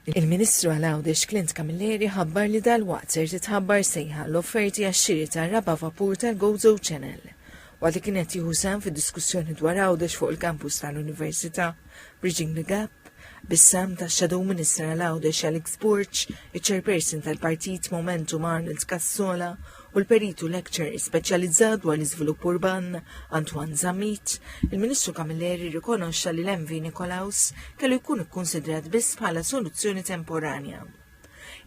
Il-Ministru għal Għawdex Clint Camilleri ħabbar li dalwaqt ser titħabbar sejħa l-offerti għax-xiri tar-raba' vapur tal-Gozo Channel. Waqt li kien qed jieħu sehem fid-diskussjoni dwar Għawdex fuq il-kampus tal-Università, Bridging the Gap, bis-sehem tax-Shadow Minister għal Għawdex Alex Borg, iċ-Chairperson tal-Partit Momentum Arnold Cassola u l-Perit u Lecturer speċjalizzat dwar l-Iżvilupp Urban, Antoine Zammit, il-Ministru Camilleri rrikonoxxa li l-MV Nikolaus kellu jkun ikkunsidrat biss bħala soluzzjoni temporanja.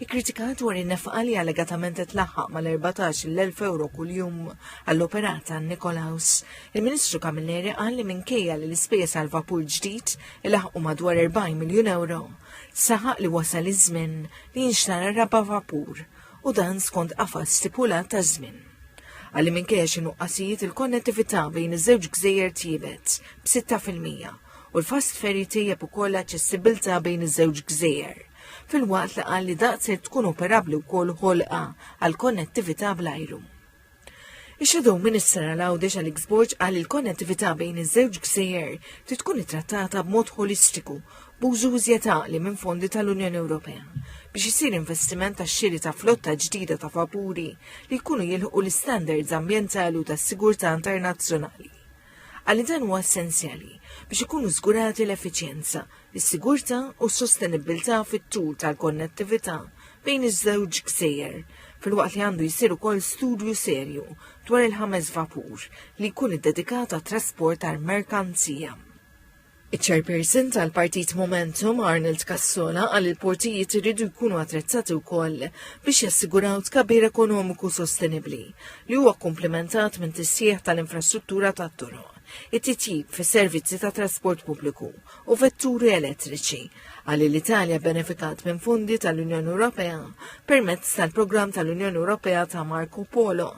Ikkritikat dwar in-nefqa li allegatament qed laħħaq mal-14,000 euro kuljum għall-operata Nikolaus, il-Ministru Camilleri qal li minkejja li l-ispejjeż għal vapur ġdid ilaħqu madwar 40 miljun euro, saħaq li wasal iż-żmien li jinxtara raba' vapur u dan skont qafas stipulat ta' żmien. Għalli minkejja xi nuqqasijiet il-konnettività bejn iż-żewġ gżejjer tjiebet b'6 fil-mija u l-fast ferry tejjeb ukoll aċċessibilità bejn iż-żewġ gżejjer filwaqt li qal li daqshekk tkun operabbli wkoll ħolqa għal konnettività bl-ajru. Ix-Shadow Minister għal Għawdex Alex Borg qal li l-konnettività bejn iż-żewġ gżejjer trid tkun ittrattata b'mod ħolistiku b'użu iżjed għaqli minn fondi tal-Unjoni Ewropea biex isir investiment tax-xiri ta' flotta ġdida ta' vapuri li jkunu jilħqu l-istandards ambjentali u tas-sigurtà internazzjonali. Għalli dan huwa essenzjali biex ikunu żgurati l-effiċjenza, is-sigurtà u s-sostenibbiltà fit-tul tal-konnettività bejn iż-żewġ gżejjer, filwaqt li għandu jsir ukoll studju serju dwar il-ħames vapur li jkun iddedikat għat-trasport tal-merkanzija. Iċ-Chairperson tal-Partit Momentum Arnold Cassola qal il-portijiet iridu jkunu attrezzati wkoll biex jassiguraw tkabbir ekonomiku sostenibbli li huwa komplementat minn tisjieħ tal-infrastruttura tat-toroq, it-titjib fis-servizzi ta' trasport pubbliku u vetturi elettriċi. Qal li l-Italja benefikat minn fondi tal-Unjoni Ewropea permezz tal-programm tal-Unjoni Ewropea ta' Marco Polo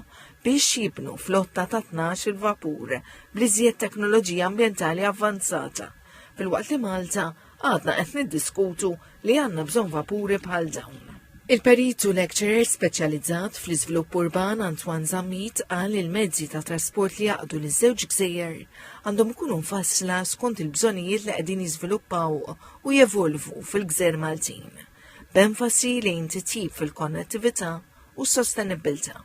biex jibnu flotta ta' tnax-il vapur bl-iżjed teknoloġija ambjentali avvanzata, filwaqt li Malta għadna qed niddiskutu li għandna bżonn vapuri bħal dawn. Il-Perit u Lecturer speċjalizzat fl-iżvilupp urban Antoine Zammit qal li l-mezzi ta' trasport li jaqdu liż-żewġ gżejjer għandhom ikunu mfassla skont il-bżonnijiet li qegħdin jiżviluppaw u jevolvu fil-gżejjer Maltin, b'enfasi lejn titjib fil-konnettività u s-sostenibbiltà.